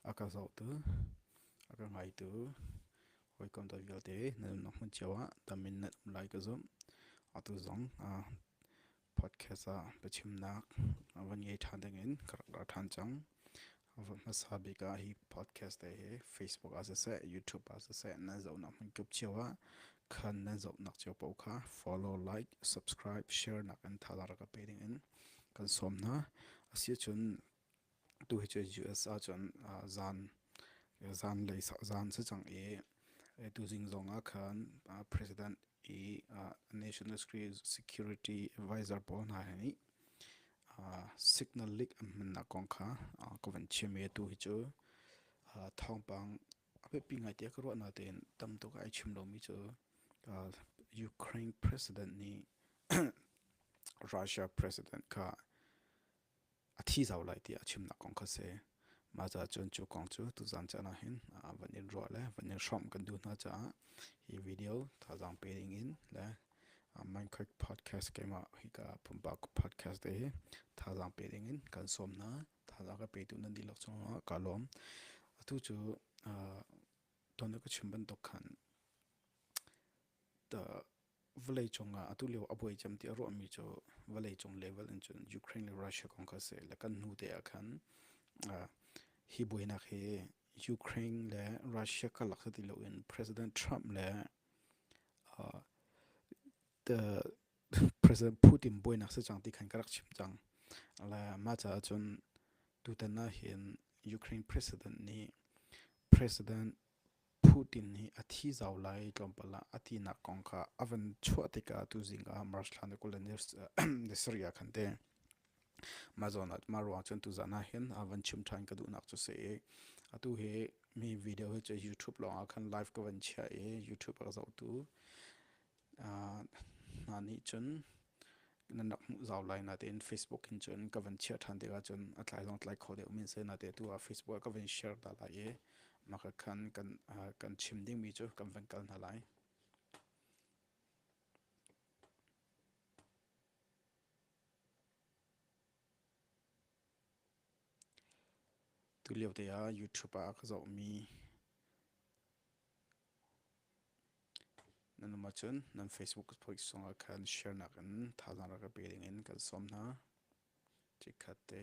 A ka zohtu, a ka ngaitu, hawikom ta vialte na nunnak hmun cio ah tam in na um lai ka zumh. Atu zong podcast ah biachimnak a van ngei ṭhan dingin ka rak ra ṭhan cang. A van hmasa bik ah hi podcast te hi Facebook ah siseh, YouTube ah siseh nan zohnak hmun kip cio ah khan nan zohnak cio paoh kha follow, like, subscribe, share nak in thazaang rak ka pe dingin kan sawm hna. A si ahcun tu hi cu US ahcun zan zan lei zan si cang i tu zing zong ah khan president i national security advisor pawl hna he nih signal leak an hmannak kong kha ka van chim i tu hi cu thawngpang biapi ngaite ka ruahnak tein tamtuk ai chim lomi cu Ukraine president nih Russia president kha a thi zau lai tiah a chimnak kong kha si. Mah caah cun cu kong cu tuzaan caan ah hin van in ruah le van in hrawm kan duh hna caah hi video thazaang pe ding in le Minecraft podcast keimah hika pumpak podcast te hi thazaang pe ding in kan sawm hna. thal a ka petu nan dilok chungah ka lawm atu cu don ka chim bantuk khan ta vawlei cungah atu lio a buai cem ti a ruahmi cu vawlei cung level in cun Ukraine le Russia kong ka se le kan hnu te ah khan hi buainak hi Ukraine le Russia kalak ti lo in President Trump le President Putin buainak si cang ti khan ka rak chim cang. Le mah caah cun tutan ah hin Ukraine president nih President Putin nih a thi zau lai tlawmpal ah a tinak kong kha a van chuah tikah tu zingah March thla ni kul le ni sarih ah khan te mah zawn ah mah ruang cun tuzaan ah hin a van chim ṭhan ka duhnak cu si atu hi mi video hi cu YouTube lawngah khan live ka van chiah i YouTube a ka zohtu hna nih cun nan rak hmuh zau lai na tein Facebook in cun ka van chiah ṭhan tikah cun a tlai zong tlai kho deuh min sai na te tu ah Facebook ah ka van share ta lai i maka khan kan kan chim dingmi cu kan van kal hna lai tu lio te ah YouTube ah ka zohmi Nan um ahcun nan Facebook poisung ah khan share nakin thazaang rak ka pe dingin kan sawm hna. Chikkhat te.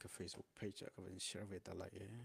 Ka Facebook page ah ka van share ve ta lai ee.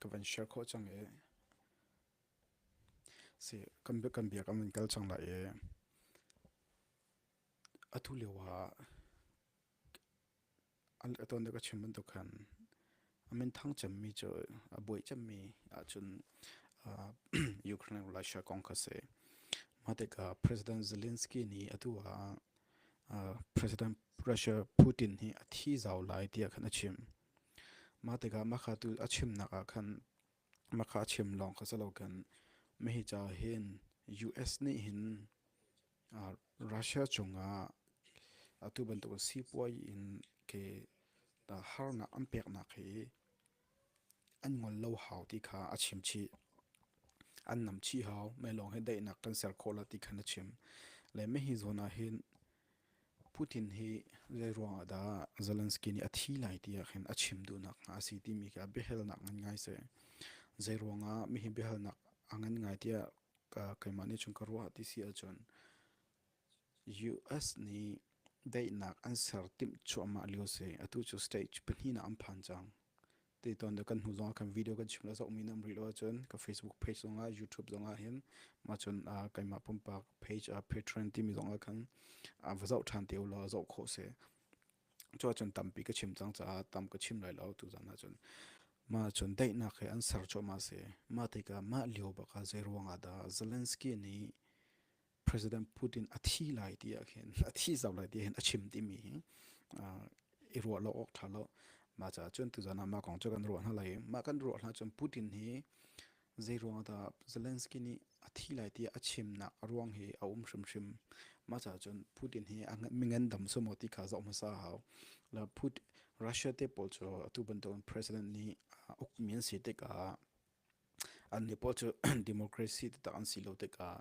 Ka van share khawh cang i kan biak an vun kal cang lai i atu lio ah a tuan deuh ka chim bantuk khan a minthang cemmi cu a buai cemmi ahcun Ukraine Russia kong kha a si. Mah tikah President Zelensky nih atu ah President Russia Putin hi a thi zau lai tiah khan a chim. Mah tikah mah kha tu a chimnak ah khan mah kha a chim lawng kha si lokin mahi ca hin US nih hin Russia cungah atu bantuk sipuai in ke harnak an peknak hi an ngol lo hau ti kha a chimchih. An nam chih hau. Mei lawng hi daihnak kan ser khawh la ti khan a chim. Le mei hi zawn ah hin Putin hi zeiruang ah dah Zelensky nih a thi lai ti ah khin a chim duhnak a si timi khi a biahalnak ngan ngai si. Zeiruang ah mi hi biahalnak a ngan ngai tiah keimah nih cun ka ruah ti si ahcun US nih daihnak an ser timh cuahmah lio si. Atu cu stage pahnihnak an phan cang. Te ton de kan hnu zongah kan video kan chim le zohmi nan rih lo ahcun ka Facebook page zongah YouTube zongah hin mah cun keimah pumpak page patron timi zongah khan va zoh ṭhan te ulaw zoh khawh si. Cuahcun tampi ka chim cang caah tam ka chim lai lo tu zan ahcun. Mah cun daihnak he an ser cuahmah si. Mah tikah mah lio bak ah zei ruangah dah Zelensky nih President Putin a thi lai ti ahhin a thi zau lai ti ahhin a chim timi hi i ruah lo awk ṭha lo. Mah caah cun tuzan ah mah kong cu kan ruah hna lai. Mah kan ruah hna cun Putin hi zeiruang ah dah Zelensky nih a thi lai tiah a chimnak ruang hi a um hrimhrim. Mah caah cun Putin hi a mingendam sum maw ti kha zoh hmasa a hau. Le Putin, Russia te pawl cu atu bantukin president nih ukmi an si tikah an nih pawl cu democracy taktak an si lo tikah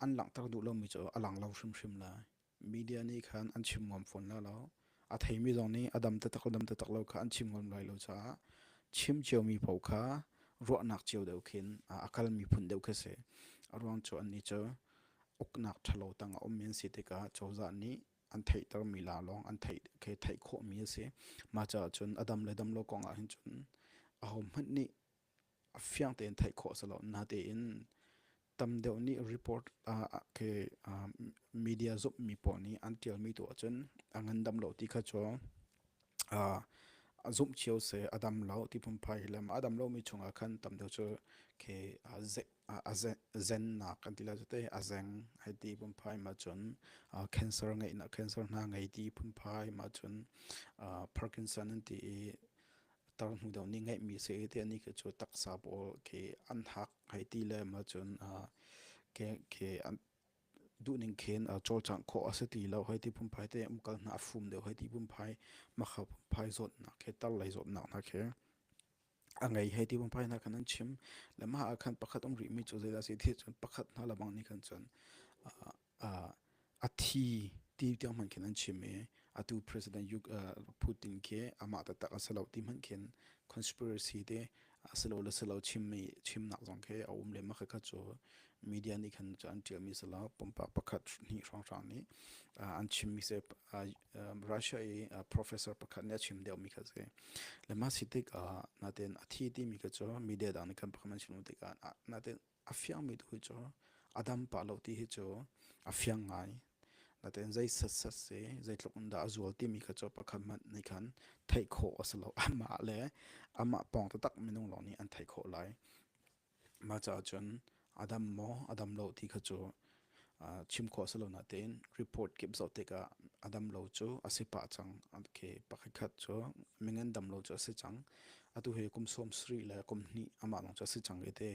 an langhter duh lomi cu a lang lo hrimhrim lai media nih khan an chim ngam fawn la lo a theimi zong nih a dam taktak dam taktak lo kha an chim ngam lai lo caah chim ciomi paoh kha ruahnak cio deuh khin a kal miphun deuh khi si a ruang cu an nih cu uknak ṭhalo tang a um men si tikah cozah nih an theihtermi la lawng an theih khi theih khawhmi a si. Mah caah cun a dam le dam lo kong ahhin cun ahohmanh nih fiang tein theih khawh a si lo. Natein tam deuh nih report khi media zumhmi pawl nih an tialmi tu ahcun a ngandam lo ti kha cu a zumh cio seh a dam lo ti phunphai hi le a dam lomi chungah khan tam deuh cu khi a zennak kan ti la cu te a zeng hai ti phunphai ma cun cancer ngei na cancer na ngei ti phunphai ma cun parkinson an ti i tar hnu deuh ni ngeih mi se te ni ke chu taksa pawl ke an hak hai ti le ma cun ke ke an du ning khen chol chang kho ase ti lo hai ti phunphai te umkal na fum deuh hai ti phunphai ma kha phunphai zot na ke tar lai zot na na ke a ngei hei ti pumpai hna khan an chim le mah ah khan pakhat um rihmi cu zeidah a si ti cun pakhat hna lebang nih khan cun a thi ti tiang hmanh khin an chim i atu president Putin khi amah taktak a si lo ti hmanh khin conspiracy te a si lo le si lo chimmi chimnak zong khi a um le mah kha cu media nih khan an ṭialmi si lo pumpak pakhat hnih hrawnghrang nih an chimmi se Russia i professor pakhat nih a chim deuhmi kha si. Le mah si tikah natin a thi timi kha cu media dang nih kan pakhat an chim tikah natin a fiangmi tu cu a dam pa lo ti hi cu a fiang ngai. Natin zei sat si, zei tluk in dah a zual timi kha cu pakhat hmanh nih khan theih khawh a si lo. Amah le amah pawng taktak minung lawng nih an theih khawh lai. Mah caah cun a dam maw a dam lo ti kha cu chim khawh a si lo nain report kip zoh tikah a dam lo cu a si pah cang. Okay, pakhatkhat cu mingen dam lo cu a si cang. Atu hi kum sawm sarih le kum hnih amah lawng cu a si cang i te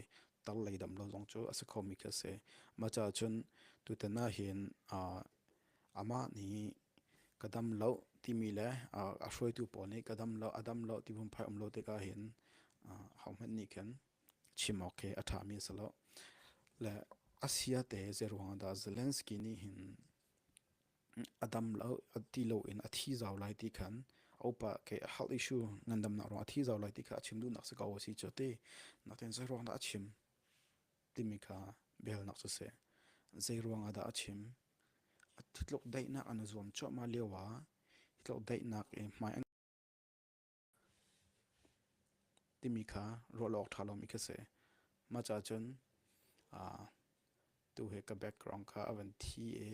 tar lei dam lo zong cu a si khomi khi a si. Mah caah cun tutan ah hin amah nih ka dam lo timi le a hruaitu pawl nih ka dam lo a dam lo ti phungphai um lo tikah hin hohmanh nih khin chim awk khi a ṭhami a si lo. Le a siate zeiruangah dah Zelensky nih hin a dam lo ti loin a thi zau lai ti khan a upa ke health issue ngandamnak ruang a thi zau lai ti kha a chim duhnak si ko a si cu ti nakin zeiruangdah a chim. timi kha belnak cu si. Zeiruang ah dah a chim? A thitluk daihnak an zuam cuahmah lio ah thitluk daihnak i hmai an timi kha ruah awk ṭha lomi khi si. Mah caah cun tu he ka background kha a van thi i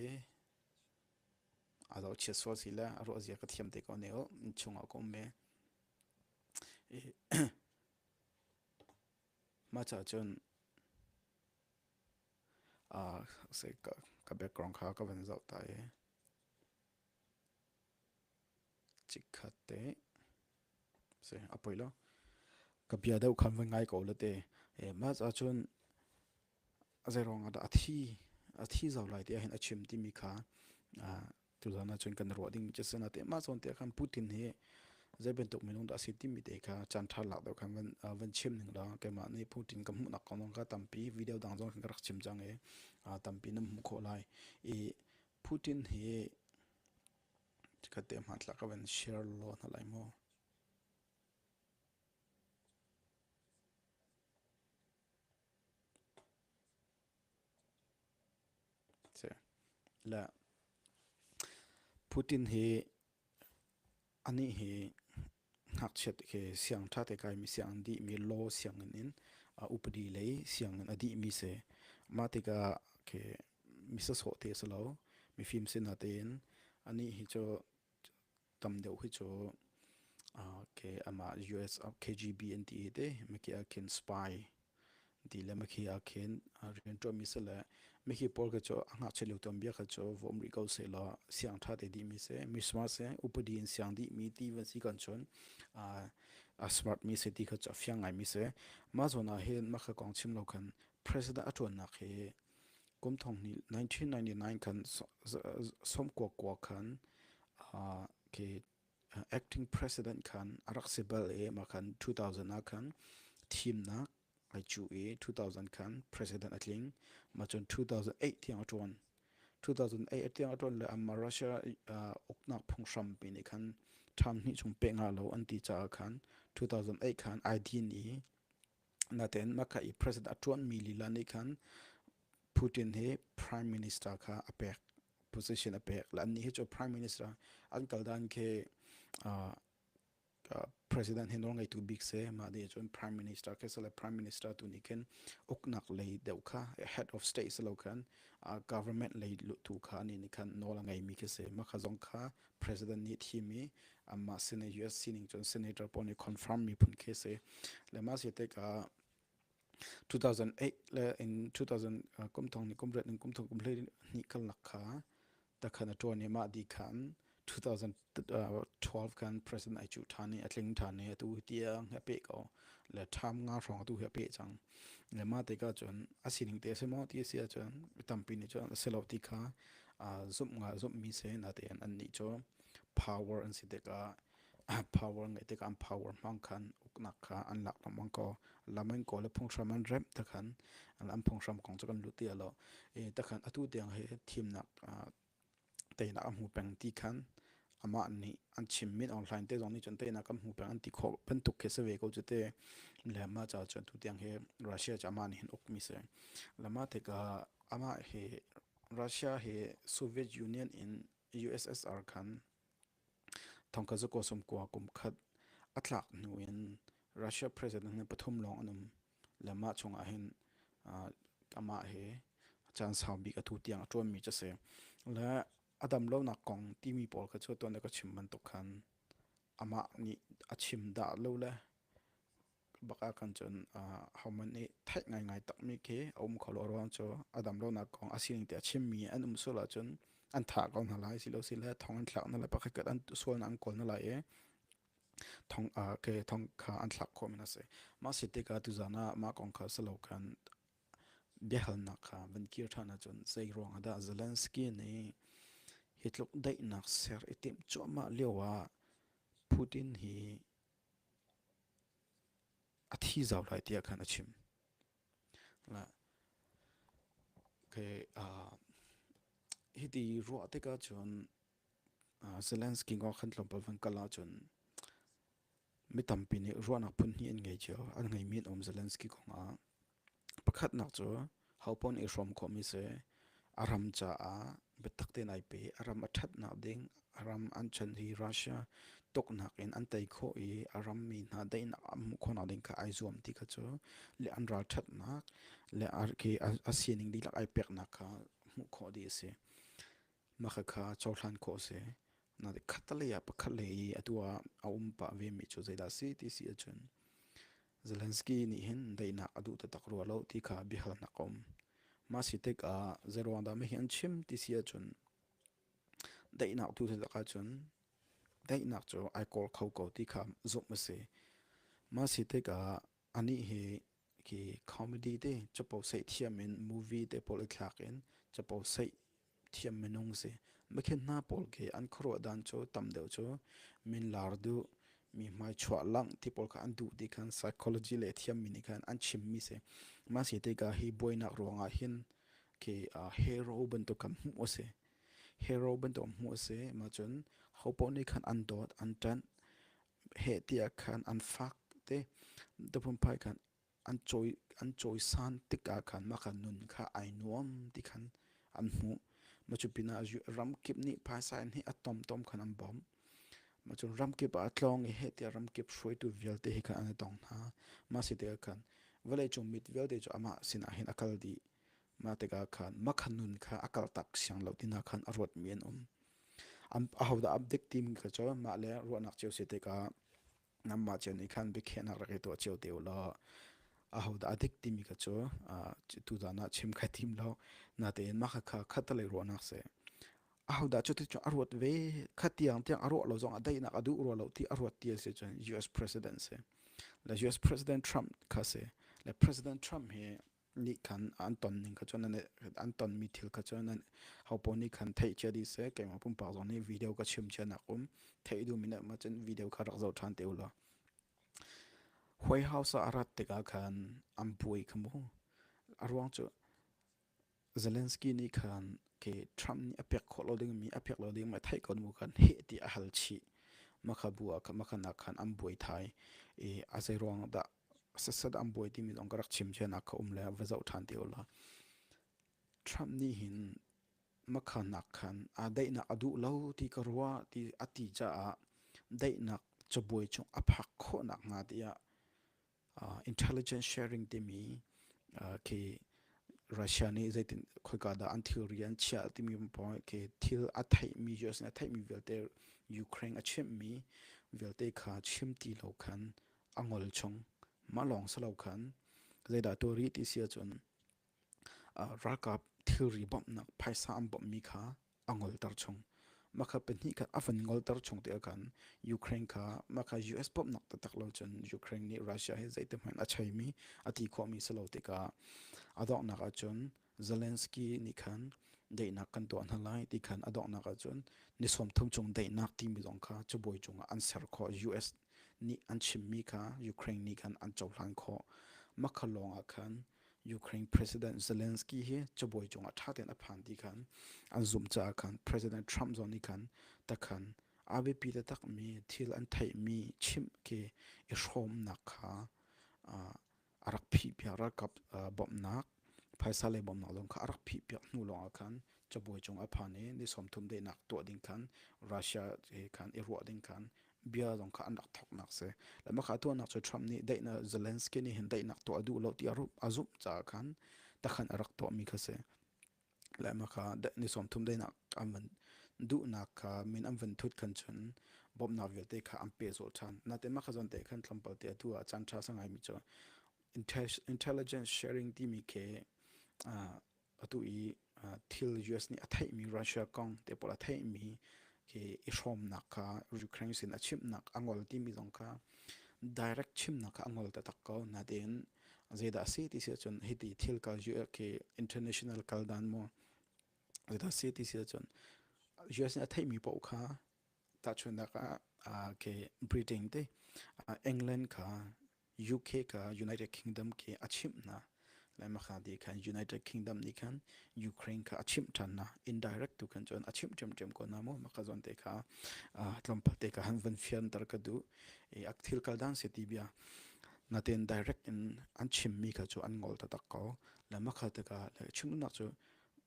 a lo chiat sual si le a ruahzia ka thiam te ko ne u, chung ah ka um ve. Mahcah cun ka background kha ka van zoh ta i chikkhat te si a poi lo. Ka bia deuh kha van ngai ko la te. Mahcah cun zeiruang ah dah a thi, a thi zau lai ti ahhin a chim timi kha tu hlan ahcun kan ruah dingmi cu sana te mah zawn te khan Putin hi zei bantuk minung dah asi timi te kha chan tha lak deuh khan van van chim ning la keimah nih Putin kan hmuhnak kong zong kha tampi video dang zong kan rak chim cang i tampi nan hmuh khawh lai i Putin hi chikat te ma tlak van share law na lai mo Putin hi anih hi ngakchiat khi siang ṭhate kaimi sianginn dihmi law sianginn in a upadi lei sianginn a dihmi si. Mah tikah khi mi sawhsawh te a si lo. Mifim si natein anih hi cu tam deuh hi cu uh, ke ama US KGB an ti te me ke akin spy ti le me ke akin rian to mi se le me ke por ke cho anga chelu tom bia ka cho vom ri ko se la siang tha te di mi se mi smart se upadi in siang di mi ti van si kan chon a smart mi se ti ka cho fiang ngai mi se ma zo na hin ma ka kong chim lo kan president atun nak he Kum thong hnih 1999 khan sawm kuakua khan khi acting president khan a rak si bal i mah khan 2000 ah khan thimnak ai cu i 2000 khan president a tling mah cun 2008 tiang a ṭuan 2008 a tiang a ṭuan le amah Russia uknak phunghram pi nih khan ṭham hnih chung peh nga lo an ti caah khan 2008 khan ai din i Natein mah i president a ṭuanmi lila nih khan Putin hi prime minister kha a pek position a pek. Annih hi cu prime minister an kal dan khi uh, uh, president hi nawlngeitu bik se mah nih cun prime minister khi sale prime minister tu nih khin uknak lei deuh kha head of state se lo khan uh, government lei tu kha ni nih khan nawl a ngeimi khi se mah kha zong kha President nih thim i anmah Senate US sining cun Senator pawl nih confirm miphun khi si le mah si tek ah 2008 le in 2000 kum thong ni kum ret in kum thong kum hlei ni kal nak kha ta khan a tuan i mah di khan 2012 kan president ai chu than i a tling than i tu tia he pe ko le tham nga hrong tu he pe chang le ma te ka chun a sining te se mo ti sia chun tampi ni chun a selo ti kha zumh nga zumhmi se na te an ni chu power an si dik a power ngai dik an power mang khan uknak kha an lak nam mang ko lamen ko le phungshram an rep ta khan an phungshram kong chu kan lu ti lo e ta khan atu deng he thim nak te na mu peng ti khan ama ni an chim min online te zong ni chun te na kan mu peng an ti kho pen tuk ke se ve ko chu te le ma cha chun tu deng he russia cha ma ni hin uk mi se lama theka ama he Russia hi Soviet Union in USSR khan thongka zu kosum kua kum khat a thlak hnu in Russia president ni pathum lawng an um le mah chung ah hin amah hi caan sau bik a tu tiang a ṭuanmi cu a si le a dam lonak kong timi pawl kha cu tuan le ka chim bantuk khan amah nih a chim dah lo le bak ah khan cun hohmanh nih theih ngaingai takmi khi a um kho lo ruang cu a dam lonak kong a sining te a chimmi an um sul ahcun an thah ko hna lai si lo si le thong an thlak hna lai pakhat an sualnak an kawl hna lai i thong ke thong kha an thlak khawh min a si mah si tikah tuzan ah mah kong kha silo khan biahalnak kha van kir ṭhan ahcun zei ruang ah dah Zelensky nih hi tluk daihnak ser i timh cuahmah lio ah Putin hi A thi zau lai tiah khan a chim. Okay, uh, hiti ruah tikah cun uh, Zelensky kong kan tlawmpal van kal ahcun mi tampi nih ruahnak phun hnih an ngei cio. An ngeimi an um Zelensky kong ah. Pakhatnak cu hopawn i hrawm khawhmi si. A ram caah biatak tein ai pe. A ram a ṭhatnak ding, a ram an chan hi Russia tuknak in an tei khawh i a rammi hna daihnak an hmuh khawhnak ding kha ai zuam ti kha cu le an ralṭhatnak le a ke a sining dihlak ai peknak kha hmuh khawh dih a si. Mahka kha cohlan khawh a si. Nain khattelei ah pakhatlei i a tu ah a um pah vemi cu zeidah a si ti si ahcun Zelensky nih hin daihnak a duh taktak rua lo ti kha biahalnak a um. Mah si tikah zeiruang dah hihi an chim ti si ahcun daihnak tu si tak ahcun daihnak cu ai kawl kho ko ti kha zumh a si. Mah si tikah Anih hi hi comedy te capo seih thiam in movie te pawl i thlak in capo seih thiam minung si. Mikhin hna pawl khi an khuaruah dan cu tam deuh cu min lar duh, mi hmai chuah langh ti pawl kha an duh ti khan psychology le thiammi nih khan an chimmi si. Mah si tikah hi buainak ruangah hin khi uh, hero bantuk kan hmuh a si. Hero bantuk hmuh a si. Mah cun hopoh nih khan an dawt, an ṭanh, heh tiah khan an fak te dapumphai khan an cawi an cawisan tikah khan mah khan nun kha ai nuam ti khan an hmuh ma cu pinah ramkip nih phaisa in hi a tomtom khan an bawmh ma cun ramkip ah a tlawng i heh tiah ramkip hruaitu vialte hi khan an i tong hna ma si tikah khan vawleicung mit vialte cu amah sinah hin a kal dih mah tikah khan mah khan nun kha a kaltak siang lo tinak khan a ruatmi an um ahodah a dik timi ka cawi mah le ruahnak cio si tikah nanmah cio nih khan biakhiahnak rak i tuah cio te u law ahodah a dik timi ka cu tutan ah chim kha tim lo natein mah kha khattalei ruahnak si ahodah cu ticu a ruat ve kha tiang tiang a ruah lo zong a daihnak a duh rua lo ti a ruat ti a si cun US president si le US president Trump kha si le president Trump hi nih khan an ton ning kha cun an an tonmi thil kha cun an ho pawl nih khan theih cia dih seh keimah pumpak zong nih video ka chim cia nak um theih duh min ma cun video kha rak zoh ṭhan te ulaw huai hausa a rat tikah khan an buai kha mu a ruang cu Zelensky nih khan ke Trump nih a pek khawh lo ding mi a pek lo ding ma theih ko mu khan heh ti a hal chih makha bu ah makha nak khan an buai thai i a zei ruang dah Sasat an buai timi zong ka rak chim cianak kha um le va zoh ṭhan te u law Trump nih hin makhanak khan aa daihnak a duh lo ti ka ruah ti a ti caah daihnak cabuai chung a phak khawhnak hnga tiah uh, intelligence sharing timi uh, khi Russia nih zeitin khoika dah an thilri an chiah timi point khi thil a theihmi US nih a theihmi vialte Ukraine a chimhmi vialte kha chim ti lo khan a ngol chung. Mah lawng si lo khan zeidah tuah rih ti si ahcun ralkap thilri bawmhnak phaisa an bawmhmi kha a ngolter chung. Makha pahnih khat a van ngolter chung te khan Ukraine kha makha US bawmhnak taktak lo cun Ukraine nih Russia he zeite hmanh a cheimi a ti khawhmi si lo tikah a donghnak ahcun Zelensky nih khan daihnak kan tuah hna lai ti khan a donghnak ahcun ni sawmthum chung daihnak timi zong kha cubawi cungah an ser khawh US nih an chimmi kha Ukraine nih khan an cohlan khawh makha lawng ah khan Ukraine President Zelensky hi cubawi cungah ṭha tein a phan ti khan an zumh caah khan President Trump zong nih khan takhan a biapi taktakmi thil an theihmi chimh ke i hrawmnak kha a rak phihpiak ralkap bawmhnak phaisa lei bawmhnak lawng kha a rak phihpiak hnu lawngah khan cabuai cung a phan i ni sawmthum dainak tuah ding khan Russia he khan i ruah ding khan bia zong kha an rak thawknak si lamaka tuahnak cu Trump nih daihnak Zelensky nih hin daihnak tuah a duh lo ti a zumh caah khan takhan a rak tuahmi kha si Lehma kha ni sawmthum dainak an van duhnak kha min an van thut khan cun bawmhnak vialte kha an pe zol ṭhan. Natein mah kha zawn te khan thlampal te atu ah caan ṭha sa ngai mi cu intelligence sharing timi khi atu i thil US nih a theih mi Russia kong te pawl a theih mi khi i hrawmnak kha Ukraine sin a chimhnak a ngol timi zong kha direct chimnak kha a ngol taktak ko. Natein Zeidah a si ti si cun hiti thil kal US khi international kal dan mu. Zeidah a si ti si cun US nih a theihmi paoh kha tahchunhnak ah uh, ke Britain te uh, England kha UK ka United Kingdom ke a chimp na lai makha di khan United Kingdom ni khan Ukraine kha a chim than na indirect tu khan chon a chim chem chem ko na mo makha zon te kha tlampate ka han van fian tar ka du e ak thil kal dan se ti bia Natein direct in an chimmi kha cu an ngol taktak ko. Le makhat tikah le chimduhnak cu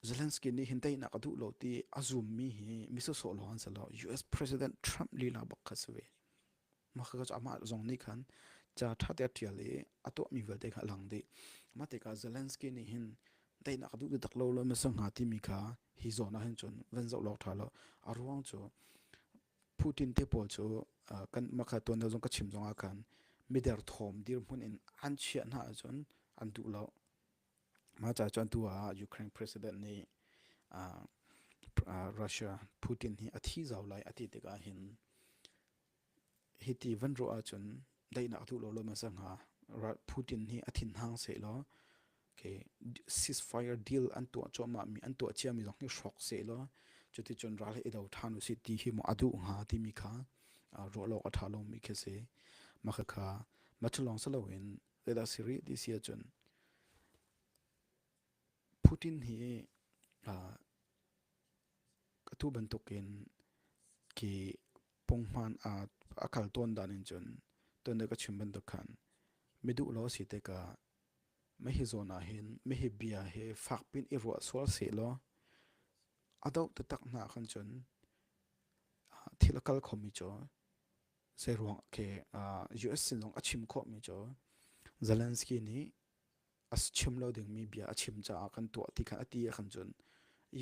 Zelensky nih hin teinak a duh lo ti a zummi hi misosawh lo an si lo. US President Trump lila bak kha si ve. Makha ka cu amah zong nih khan ca ṭha te ṭial i a tuahmi vialte kha a lang dih. Mah tikah Zelensky nih hin teinak a duh taktak lo lo masa hnga timi kha hi zawn ah hin cun van zoh law ṭha law a ruang cu Putin te pawl cu kan makha tuanto zong ka chim zong ah khan miderthawm dirhmun in an chiah hna ahcun an duh lo. Mah ca cu atu ah Ukraine president nih Russia Putin hi a thi zau lai a ti tikah hin hiti van ruah ahcun daihnak a duh lo lo hmasa hnga. Putin hi a thinhang seh law ceasefire deal an tuah cuahmahmi an tuah ciami zong hi hrawk seh law cuticun ral i do ṭhan u sih ti hi maw a duh hnga timi kha ruahlawk a ṭha lomi khi si maka kha macu lawng si loin let us rih ti si ahcun Putin hi atu bantukin ki pungman a kal ton dan in cun tonda ka chim bantuk khan miduh lo si te ka Mei hi zawn ahhin meihi bia hi fak piin i ruah sual sehlaw a doh taktak hna ahkhan cun thil a kal khomi cu zeiruang ke US sinzong a chim khawhmi cu Zelensky nih a chim lo dingmi bia a chim caah kan tuah ti kha a ti ahkhan cun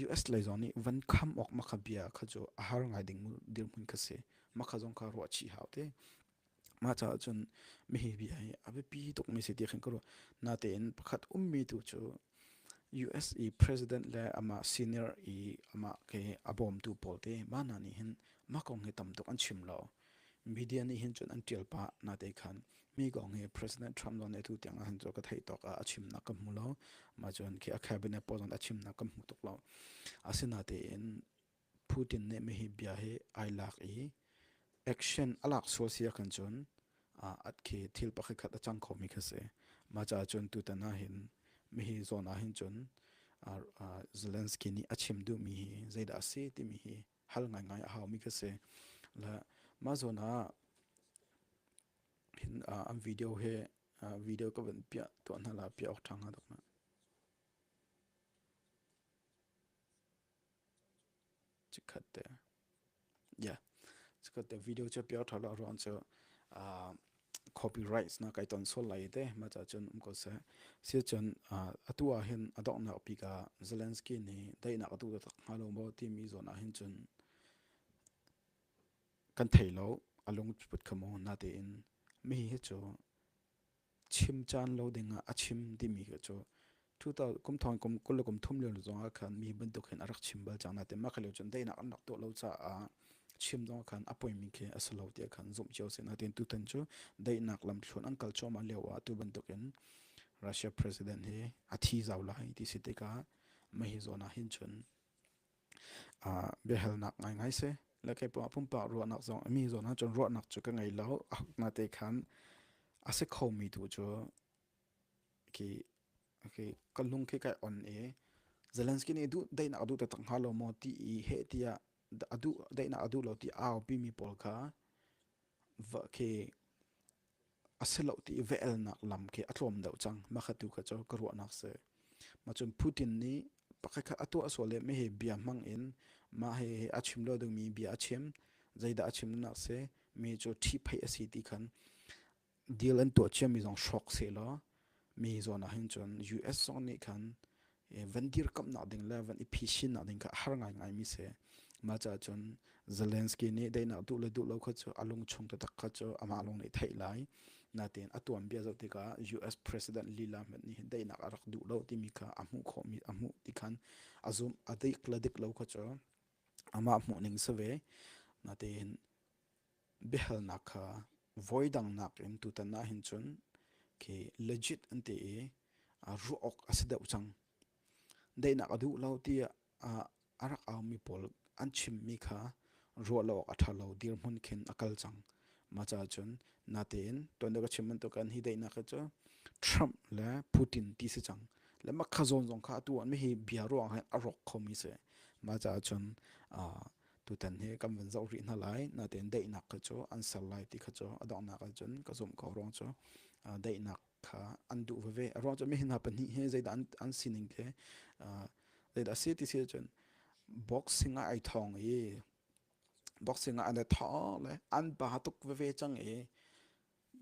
US lei zong nih van kham awk makha bia kha cu a har ngai ding dirhmun kha si. Makha zong kha ruah chih hau te. Mah caah cun mihi bia hi a biapi tukmi si tiah khin ka ruah. Natein pakhat ummi tu cu USA president le amah senior i amah ke a bawmtu pawl te mah hna nih hin mah kong hi tam tuk an chim lo. Media nih hin cun an tial pah nate khan mi kong hi President Trump lawn tu tiang ah hin cu ka theih tawk ah a chimnak ka hmu lo. Mah cun khi a cabinet pawl zong a chimnak ka hmu tuk lo. Asinatein Putin nih mihi bia hi ai lak i action a lak sual si ahkhan cun at khi thil pakhatkhat a cang khomi kha si. Mah caah cun tutan ahhin mihi zawn ahhin cun Zelensky nih a chim duhmi hi zeidah a si timi hi hal ngaingai a haumi kha si. Mah zawn ah an video he video ka van piah tuah hna la piah awk ṭha hnga dok na. video cu piar ṭha lo ruang cu copyrights na kai ton sual lai te mah ca cun um ko seh siacun atu ah hin a donghnak bik ah Zelensky nih daihnak a tuah tak hnga lo maw timi zawn ah hin cun kan thei lo a lung put kha maw na tein mi hi cu chim caan lo dingah a chim timi khi cu 2000 kum thong kum kul le kum thum lio zong ah khan mi bantuk hin a rak chim bal cang natin mah leo cun dainak an rak tuah lo caah chim zong khan a poimi khi a si lo tiah khan zumh cio sin natin tutan cu dainak lam thlun an kal choma leo ah tu bantuk in Russia president hi a thi zau lai ti si tikah mahi zona hin chun biahalnak ngaingai si. Le kei pawngah pumpak ruahnak zong mi zawn ah cun ruahnak cu ka ngei lo. A na te khan a si kho mi tu cu ki ki ka lung ki kai on i Zelensky nih duh daihnak a duh taktak hnga lo maw ti i heh tiah a duh daihnak a duh lo ti aupi mi pawl kha va khi A si lo ti i va-elnak lam khi a tlawm deuh cang. Mahkhat tu kha cu ka ruahnak si. Mah cun Putin nih pakhatkhat a tuah sual i meheh bia hmang in mah he a chim lo dingmi bia a chim. Zeidah a chim nak si? Mi cu ṭhipheih a si ti khan deal an tuah ciami zong hrawk sehlaw mi zawn ah hin cun US zong nih khan van dirkamhnak ding le van i phishinnak ding kha a har ngaingai mi si ma ca cun Zelensky nih dainak duh le duh lo kha cu a lung chung te tak kha cu amah lung nih theih lai natin a tuan bia zoh tikah US president lila hmet nih dainak a rak duh lo timi kha a hmuh khawh mi a hmuh ti khan a zum a dik le dik lo kha cu amah hmuh ning si ve natin Biahalnak kha voidang nakin tutan ahhin cun khi legit an ti i ruah awk a si deuh cang. Daihnak a duh lo tiah a rak aumi pawl an chimmi kha ruah lo awk a ṭha lo dirhmun khin a kal cang. Maca cun natein tuan ka chim bantukan hi daihnak hi cu Trump le Putin ti si cang. Le makha zawn zong kha atu an mi hi bia ruang he a rawk khomi si. Maca cun tutan hi kan van zoh rih hna lai na tein daihnak kha cu an ser lai ti kha cu a donghnak ah cun ka zumh ko ruang cu daihnak kha an duh veve a ruang cu mi hna pahnih hi zeidah an, an sining ke zeidah a si ti si cun boxing ah ai thawng i boxing ah an tho le an ba tuk veve cang i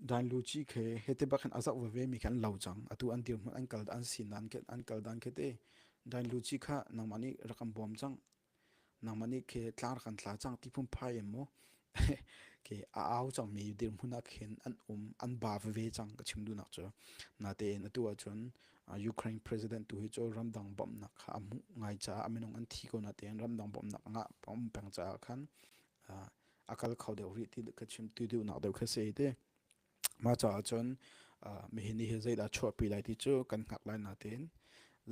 dan luci khe hete bakin azak veve mi khan lo chang atu an dir hmun an kal an sin an ke an kal dan ke te dan luci kha nangmah nih rakam bom chang nangmah nih ke tlar kan tla cang ti phun phai em maw ke a au cangmi dirhmun ah khin an um an ba veve cang ka chim duhnak cu natein atu ahcun Ukraine president tu hi cu ramdang bawmhnak kha a hmuh ngai caah a minung an thi ko natein ramdang bawmhnak ngah pom peng caah khan a kal kho deuh rih ti ka chim tu deuhnak deuh kha si te Mah caah cun uh, mihin hi zeidah chuahpi lai ti cu kan hngak lai natein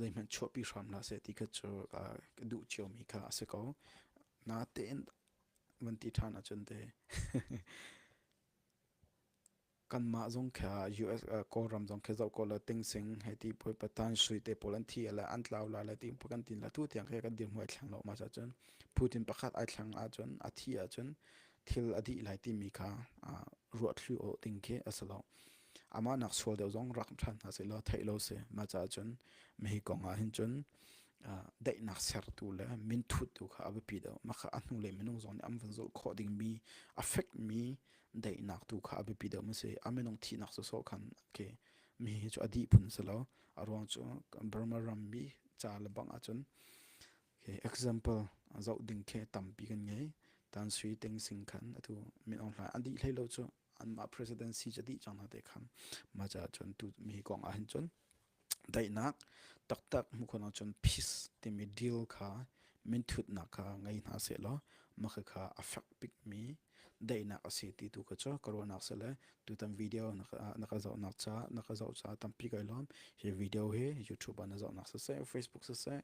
zeihmanh chuahpi hram hlah seh ti kha cu uh, duh ciomi kha a si ko. Natein van ti ṭhan ahcun te kanmah zong kha US uh, kawlram zong kha zoh ko la tingsing he ti poi patan sui te pawl an thi ala an tlau la la ti pu kan tin la tu tiang khe kan dir muai thlang lo ma sa chun Putin pakhat ai thlang a chun a thi a chun thil a dih lai timi kha ruahthli awh ding khi a si lo amah nak sual deuh zong rak ṭhan hna seh law theih lo si ma ca cun ma hi kong ah hin cun daihnak sertu le minthut tu kha a biapi deuh maka a hnu le minung zong nih an van zulh khawh dingmi affect mi daihnak tu kha a biapi deuh ma si a minung thihnak so so khan ke mi hi cu a dih phun si lo a ruang cu Burma ram mi ca le bang ah cun Okay, example zoh ding khi tampi kan ngei. Dan Sui Ting Sing khan atu min ong hla an dih hlei lo cu an ma presidency cha dih chang na te khan ma cha chun tu mi kong a hin chun dainak taktak mu khona chun peace timi deal kha min thut nak kha ngai hna se law ma kha affect pik mi daihnak a si ti tu ka cu ka ruahnak se le tutan video na ka na ka zoh nak cha na ka zoh cha tampi kai lom hi video hi youtube na zoh nak se se facebook se se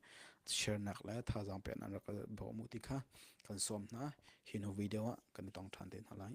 share nak le tha jang pe nan ra ka bo mu ti kha kan som na hi no video a kan tong than te na lai